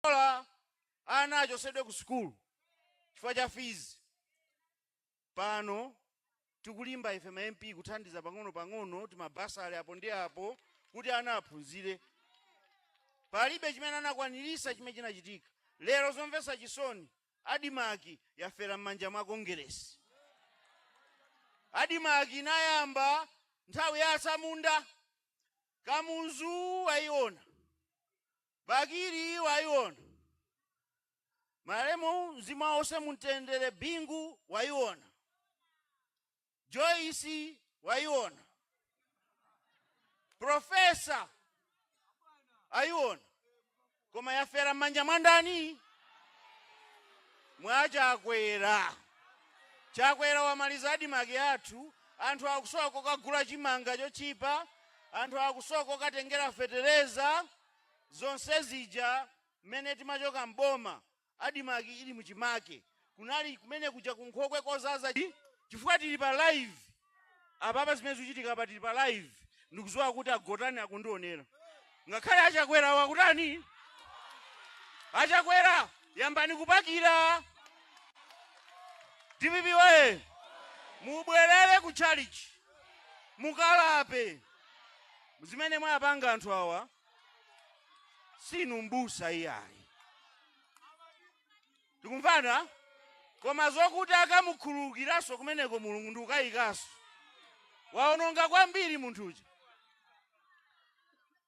bola ana achotsedwe ku sukulu chifukwa cha fizi pano tikulimba ife ma mp kuthandiza pang'ono pang'ono timabasa ali apo ndi apo kuti ana aphunzire palibe chimene anakwaniritsa chimene chinachitika lero zomvetsa chisoni adimaki yafera m'manja mwa kongeresi adimaki inayamba nthawi ya asamunda kamuzu wayiona Bakili waiona malemu mzimu wawo uwuse mumtendere Bingu waiona Joyce waiona Professor aiona koma yafera mmanja mwandani mwa chakwera chakwera wamaliza adimaki athu anthu akusowa kokagula chimanga chotchipa Anthu akusowa kokatengera fetereza zonse zija mmene timachoka m'boma admarc ili mu chimake kunali kumene kuja ku nkhokwe kodzadza chifukwa tili pa live apapa zimene zikuchitika apa tili pa live ndikudziwa kuti akutani akundionera ngakhale achakwerawo akutani achakwera yambani kupakira dpp woye mubwerere ku chalichi mukalape zimene mwapanga anthu awa sinu mbusa iyayi tikumvana koma zokuti akamukhululukiranso kumeneko mulungu ndikukayikanso waononga kwambiri munthu uja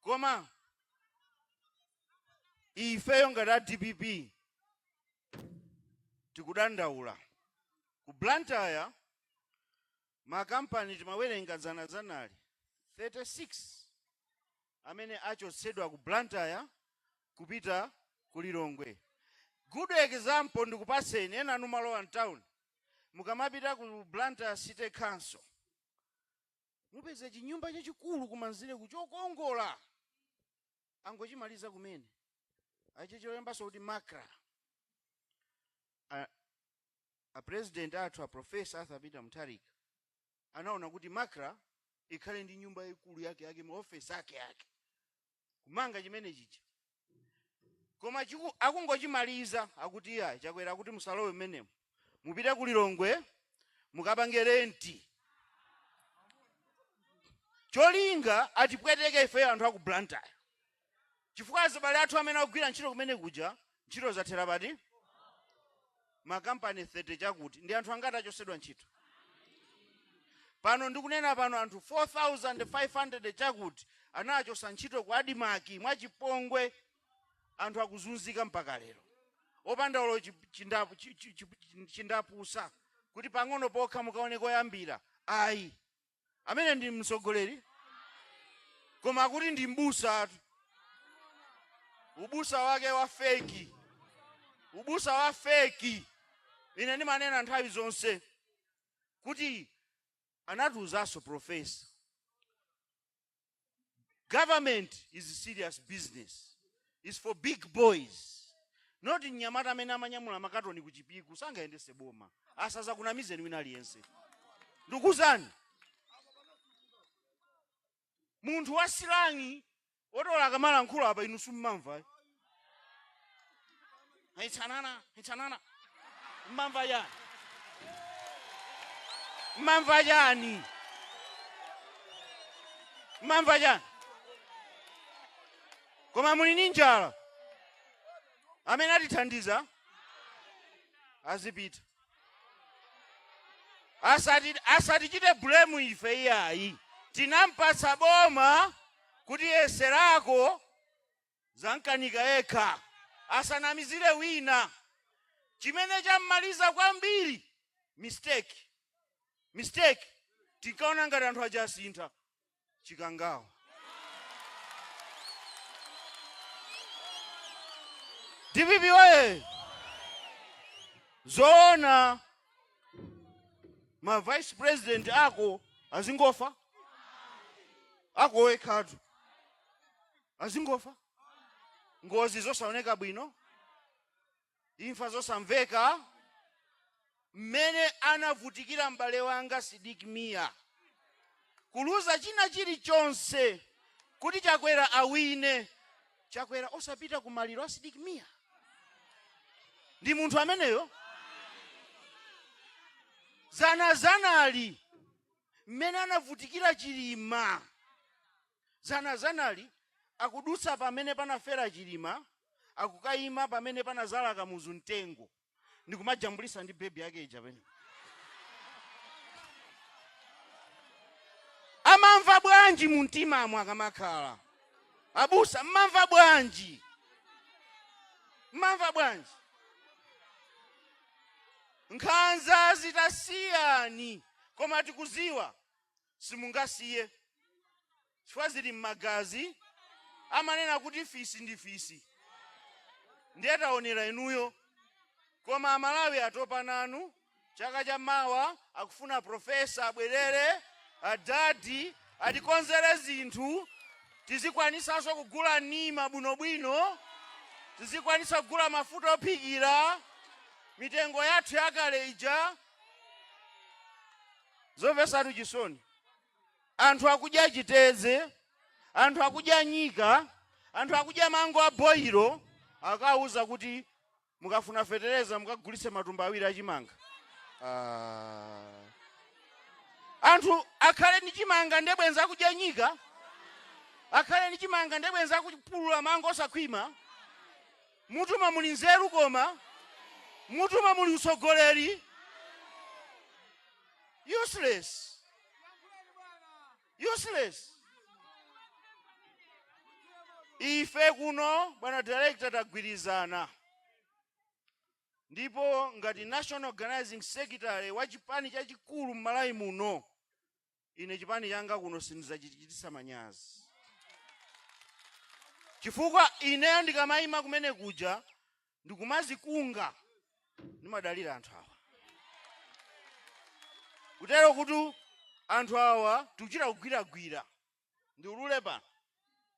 koma ifeyo ngati a dpp tikudandaula ku blantyre Makampani timawerenga dzana analipo 36 amene achotsedwa ku Blantyre kupita ku Lilongwe. Good example ndikupatseni, enanu mumalowa m'tauni. Mukamapita ku Blantyre City Council, mupeze chinyumba chachikulu kumanzereku chokongola, angochimaliza kumene, achilembanso kuti Macra. a president athu a Professor Arthur Peter Mutharika anaona kuti Macra ikhale ndi nyumba yaikulu yake yake ma office ake ake kumanga chimene chija koma akungochimaliza akuti iya chakwera kuti musalowe mmenemo mupite ku Lilongwe mukapange renti cholinga atipweteke ifeyo anthu aku Blantyre chifukwa azibale athu amene akugwira ntchito kumene kuja ntchito zathera pati makampani 30 chakuti ndi anthu angati achosedwa ntchito pano ndikunena pano anthu 4500 chakuti anachosa ntchito ku adimaki mwachipongwe anthu akuzunzika mpaka lero opanda olo chindapusa kuti pang'ono pokha mukaone koyambira ayi amene ndi mtsogoleri koma kuti ndi mbusa atu ubusa wake wa feki ubusa wa feki ine ndimanena nthawi zonse kuti anatiuzanso profesa government is a serious business is for big boys not mnyamata amene amanyamula makatoni ku chipiku sangayendese boma asazakunamizeni wina aliyense ndikuuzani munthu wa silangi otola akamalankhula apa inu simmamva itsanana itsanana mmamva chani mmamva chani mmamva chani koma muli ndi njala amene atithandiza azipita asatichite bulemu ife iyayi tinampatsa boma kuti yeserako zamukanika yekha asanamizire wina chimene chammaliza kwambiri mistake mistake tinkaona ngati anthu aja asintha chikangawa dpp oye zoona ma vice president ako azingofa ako wekhatu azingofa ngozi zosaoneka bwino imfa zosamveka mmene anavutikira m'bale wanga sidik mia kuluza china chilichonse kuti chakwera awine chakwera osapita ku maliro a sidik mia ndi munthu ameneyo dzanadzanali mmene anavutikira chilima Dzanadzanali akudutsa pamene panafera Chilima akukaima pamene panazala Kamuzu mtengo ndikumajambulisa ndi baby yake ija penepa. Amamva bwanji mumtimamo akamakhala? Abusa mmamva bwanji? Mmamva bwanji? Nkhanza zikusiyani koma tikuziwa simungasiye chifukwa zili m'magazi amanena kuti fisi ndi fisi ndiye taonera inuyo koma amalawi atopa nanu chaka cha mawa akufuna profesa abwerere adadi atikonzere zinthu tizikwanisanso kugula nyama bwinobwino tizikwanisa kugula mafuta ophikira mitengo yathu yakale ija Zomvesatu chisoni anthu akudya chiteze anthu akudya nyika anthu akudya mango a boilo akawuza kuti mukafuna fetereza mukagulitse matumba awiri achimanga ah. anthu akhale ni chimanga nde bwenza akudya nyika akhale ni chimanga nde bwenza akupulula mango osakhwima M'mutumo muli nzeru koma m'mutumo muli utsogoleri useless useless ife kuno bwana director tagwirizana ndipo ngati national organizing secretary wa chipani chachikulu m'malawi muno ine chipani changa kuno sindizachichitisa manyazi chifukwa ineyo ndikamayima kumene kuja ndikumazikunga ndimadalira anthu awa kutero kuti anthu awa tikuchita kugwiragwira ndiulule pano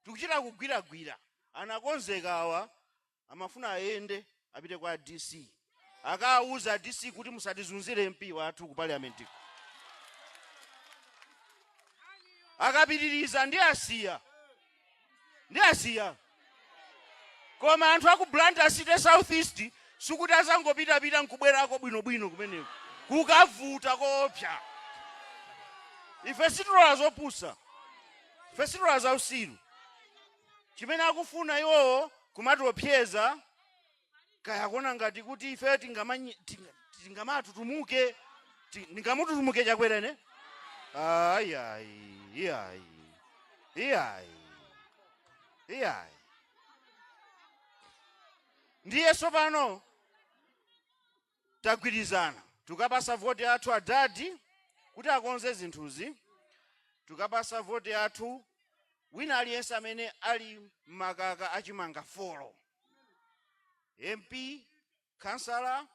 tikuchita kugwiragwira anakonzeka awa amafuna ayende apite kwa a dc akawuze a dc kuti musatizunzire mp wathu ku parliamentiko akapitiriza ndi asiya ndi asiya koma anthu aku blantyre city south east sikuti azangopitapita nkubwerako bwinobwino kumeneko kukavuta koopsa ife sitilola zopusa ife sitilola zausiru chimene akufuna iwowo kumatiopseza kaya akuona ngati kuti ife tingamanyi- tinga- tingamatutumuke ti- ndingamututumukire chakwera ine ayi ayi iyayi iyayi iyayi ndiye tsopano tagwirizana tukapasa voti yathu adadi kuti akonze zinthuzi tukapasa voti yathu wina aliyense amene ali m'makaka achimanga folo mp kansala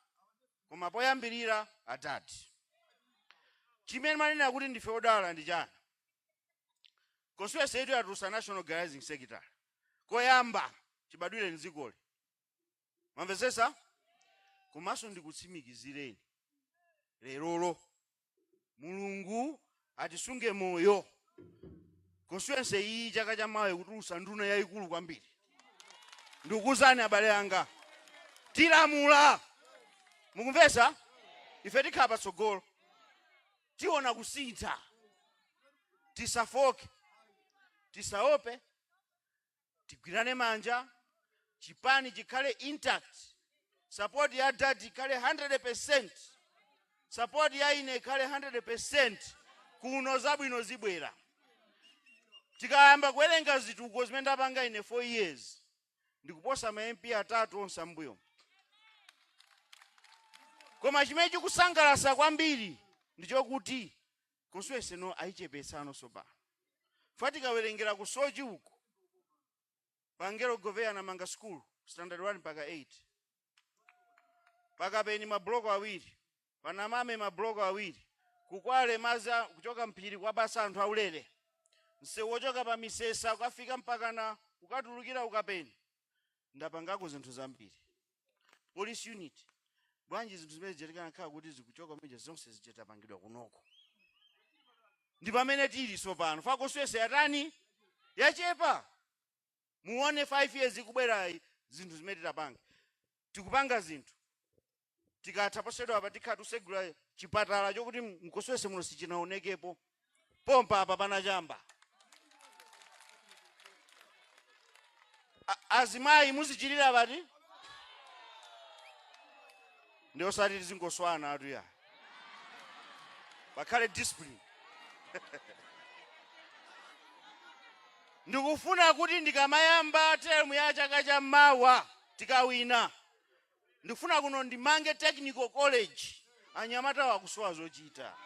koma poyambirira adadi chimene ndimanena kuti ndife odala ndi chani constituency yathu yatulusa national organizing secretary koyamba chibadwire mdzikoli mwamvetsetsa komanso ndikutsimikizireni lerolo mulungu atisunge moyo constituency iyi chaka cha mawa ikutulutsa nduna yayikulu kwambiri ndikukuuzani abale anga tilamula mukumvetsa ife tikhala patsogolo tiona kusintha tisafoke tisaope tigwirane manja chipani chikhale intact support ya dad ikhale 100% support ya ine ikhale 100% kuno zabwino zibwera tikayamba kuwerenga zituko zimene ndapanga ine 4 years ndikuposa ma mp atatu onse ambuyo koma chimene chikusangalatsa kwambiri ndichokuti Constituency ino ayichepetsano tsopano chifukwa tikawelengela ku soche uko pa angelo goveya anamanga school standard 1 mpaka 8 pa kapeni ma block awiri pa namame ma block awiri ku kwale madzi a- kuchoka m'phiri kuwapatsa anthu aulere msewu wochoka pa misesa kukafika mpakana kukatulukira ku kapeni ndapangako zinthu zambiri police unit bwanji zinthu zimene zija zikanakhala kuti zikuchoka meja zonse zija zitapangidwa kunoko ndi pamene tili tsopano chifukwa constituency yatani yachepa muone 5 years ikubwerayi zinthu zimene titapange tikupanga zinthu tikatha posachedwa apa tikhala tikutsegula chipatala chokuti mu constituency muno sichinaonekepo pompa apa panachamba azimayi muzichirira pati ndiye osati tizingoswana atu ya pakhale discipline ndikufuna kuti ndikamayamba term ya chaka cha mawa tikawina ndikufuna kuno ndimange technical college anyamatawo akusowa zochita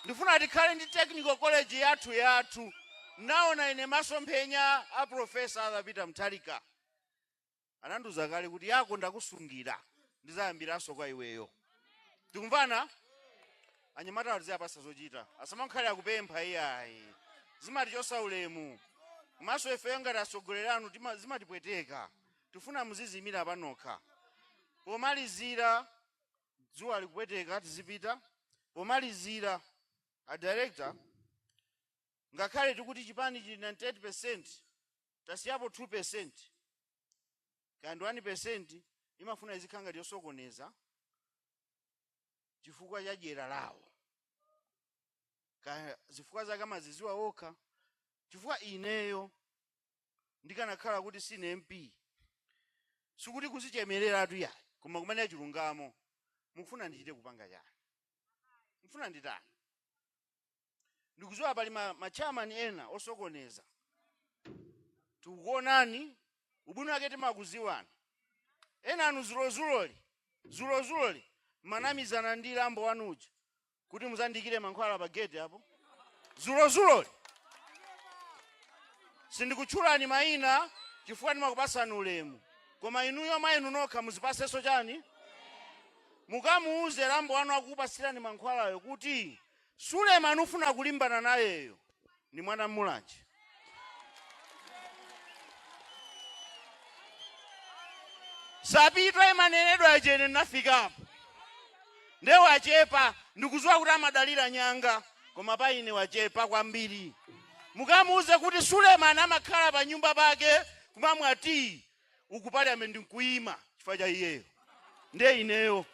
ndifuna tikhale ndi technical college yathu yathu ndinaona ine masomphenya a profesa arthur peter mutharika anandiuza kale kuti yako ndakusungira ndizayambiranso kwa iweyo tikumvana anyamata tiziwapatsa zochita asamakhale akupempha iyayi zimatichotsa ulemu komanso ifeyo ngati atsogoleri anu tima- zimatipweteka tifuna muzidziimira panokha pomalizira dzuwa likupweteka tizipita pomalizira a director ngakhale tikuti chipani chili 98 percent tasiyapo 2 percent kaya ndi 1 percent imafuna izikhala ngati yosokoneza chifukwa cha dyera lawo kaya zifukwa zake amaziziwa okha chifukwa ineyo ndikanakhala kuti sine mp sikuti kuzichemereratu ayi koma kumanena chilungamo mufuna ndichite kupanga chani mufuna nditani ndikuziwa pali ma, ma chairman ena osokoneza tikukuonani ubwino wake timakuziwani ena anu zulozuloli zulozuloli manamizana ndi lambo wanu uja kuti muzandikire mankhwala pa gate apo zulozuloli sindikutchulani mayina chifukwa ndimakupasani ulemu koma inuyo mwa inu nokha muzipasenso chani mukamuuze lambo wanu wakupasirani mankhwalayo kuti Suleman ukufuna kulimbana nayeyo ndi mwana wa Mulanje. Sapitwa imanenedwa ija ine ndinafikapo nde wachepa ndikuziwa kuti amadalira nyanga koma pa ine wachepa kwambiri. Mukamuuze kuti Suleman amakhala pa nyumba pake kumamwa tiyi uku parliament ndikuima chifukwa cha iyeyo ndiye ineyo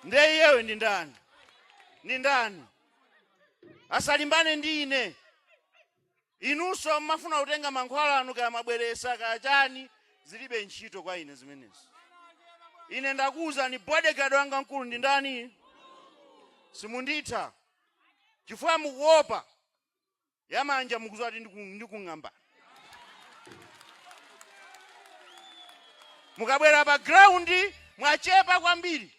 ndiye iyeyo ndi ndani ndi ndani asalimbane ndi ine inunso mmafuna kutenga mankhwala anu kaya mabweresa kaya chani zilibe ntchito kwa ine zimenezi ine ndakuwuzani bodyguard wanga mkulu ndi ndani simunditha chifukwa mukuopa ya manja mukuziwa kuti ndiku- ndikung'amba mukabwera pa ground mwachepa kwambiri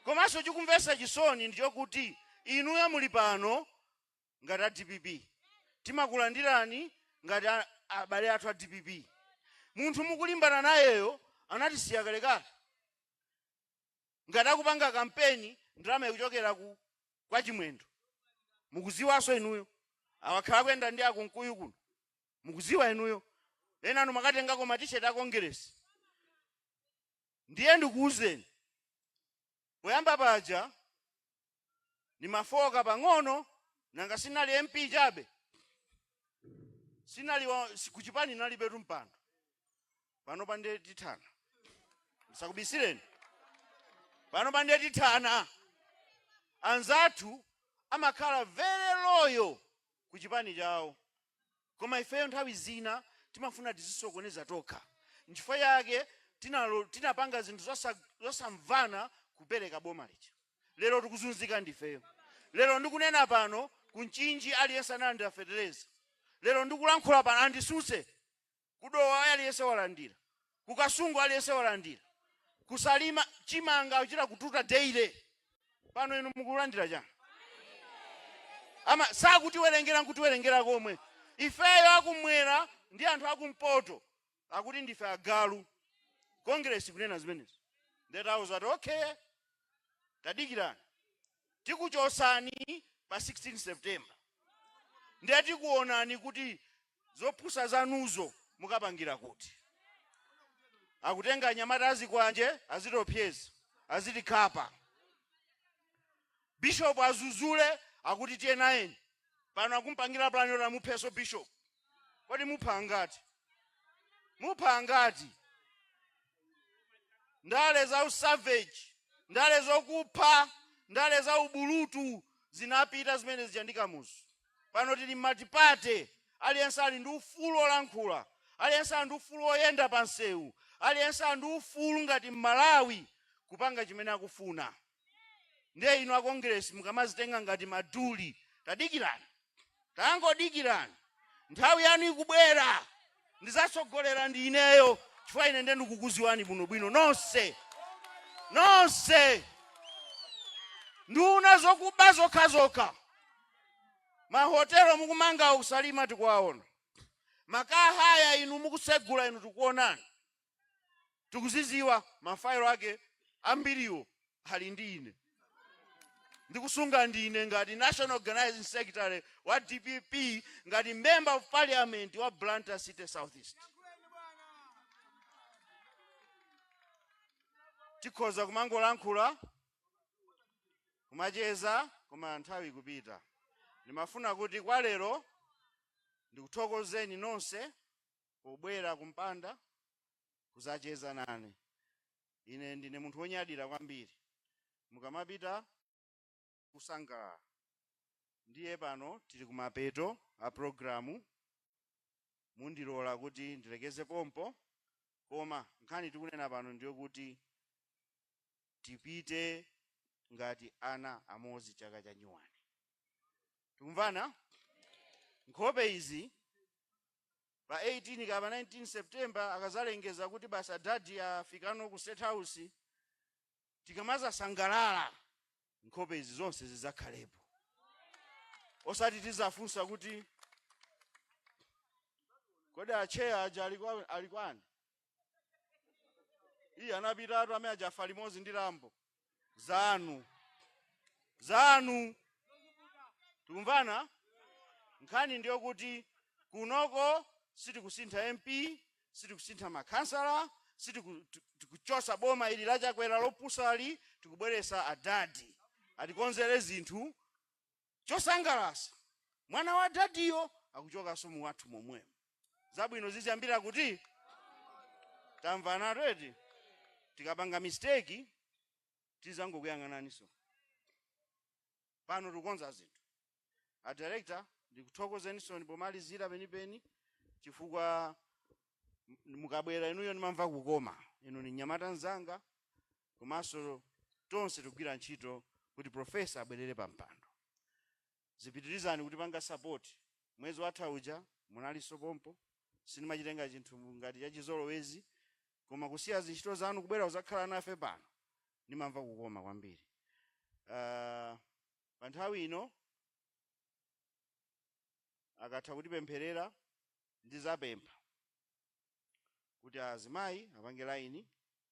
komanso chikumvesa chisoni ndichokuti inuyo muli pano ngati a dpp timakulandirani ngati a- abale athu a dpp munthu mukulimbana nayeyo anatisiya kalekale ngati akupanga kampeni ndalama ikuchokera ku kwa chimwendo mukuziwaso inuyo wakhala akuyenda ndi a Kunkuyu kuno mukuziwa inuyo enanu mwakatengako matisheti a kongeresi ndiye ndikuwuzeni poyamba paja ndimafooka pang'ono nanga ndinali mp chabe sinali wa- si- kuchipani nalibetu mpando pano pa ndiye tithana ndisakubisireni pano pa ndiye tithana anzathu amakhala very loyal ku chipani chawo Koma ifeyo nthawi zina timafuna tizisokoneza tokha. Nchifukwa chake tinalo- tinapanga zinthu zosa- zosamvana kupereka boma lija. Lero tikuzunzika ndifeyo. Lero ndikunena pano ku Mchinji aliyense analandira fetereza. Lero ndikulankhula pano anditsutse. Ku Dowa aliyense walandira. ku kasungu aliyense walandira ku salima chimanga uchita kututa daily pano inu mukulandira chani ama sakutiwerengera nkutiwerengera komwe ifeyo akumwera ndi anthu akumpoto akuti ndife agalu congress kunena zimenezi ndetauza ati okay tadikirani tikuchosani pa 16 September nde tikuonani kuti zopusa zanuzo mukapangira kuti. Akutenga anyamata azikwanje azitiopsyeza azitikhapa. Bishop azuzule akuti tiyenayeni pano akumpangira plan yoti amupheso bishop. Kodi mupha angati? Mupha angati? ndale za usavage ndale zokupha ndale za ubulutu zinapita zimene zija ndi kamuzu pano tili m'matipate aliyense ali ndi ufulu olankhula aliyense ali ndi ufulu oyenda pa msewu aliyense ali ndi ufulu ngati mmalawi kupanga chimene akufuna ndiye inu a congress mukamazitenga ngati maduli tadikirani tangodikirani nthawi yanu ikubwera ndizatsogolera ndi ineyo chifukwa ine ndiye ndikukuziwani bwinobwino nonse nonse nduna zokuba zokhazokha mahotelo mukumanga ku salima tikuwaona ma car hire inu mukusegula inu tikuonani tikuzidziwa, mafayilo ake ambiriwo ali ndi ine, ndikusunga ndine ngati National Organizing Secretary wa dpp, ngati Member of Parliament wa Blantyre City South East. tikhoza kumangolankhula kumacheza koma nthawi ikupita ndimafuna kuti kwa lero ndikuthokozeni nonse pobwera kumpanda kuzacheza nane. Ine ndine munthu wonyadira kwambiri mukamapita kusangalala. Ndiye pano tili kumapeto a programu, mundilola kuti ndilekeze pompo, koma nkhani tikunena pano ndiyokuti tipite ngati ana amodzi chaka cha nyuwani. Tikumvana? Nkhope izi pa 18 kapa 19 september akazalengeza kuti basi adadi afikano ku state house tikamazasangalala nkhope izi zonse zidzakhalepo osati tizafunsa kuti kodi acheya aja ali kwani iye anapitatu amene adzafa limodzi ndi lambo zanu zanu tikumvana nkhani ndiyo kuti kunoko sitikusintha mp sitikusintha makhansala sitiku- ti- tikuchosa boma ili la Chakwera lopusali tikubweresa adadi atikonzere zinthu chosangalasa mwana wa dadiyo akuchokanso mu wadi momwemo zabwino ziziyambira kuti tamvana redi tikapanga mistake tizangokuyang'anani nsoni pano tikukonza zinthu a director ndikuthokozenisoni pomalizira penipeni chifukwa m- mukabwera inuyo ndimamva kukoma inu ni nyamata nzanga komanso tonse tikugwira ntchito kuti profesa abwerere pa mpando zipitirizani kutipanga sapoti mwezi watha uja munalinso pompo sindimachitenga chinthu ngati chachizolowezi koma kusiya zintchito zanu kubwera kuzakhala nafe pano ndimamva kukoma kwambiri uh, pa nthawi ino akatha kutipempherera ndizapempha kuti azimayi apange laini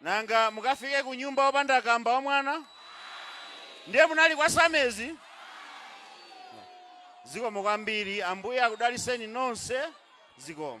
Nanga mukafike kunyumba opanda kamba wa mwana? Ndiye munali kwa samezi? Zikomo kwambiri. Ambuye akudaliseni nonse. Zikomo.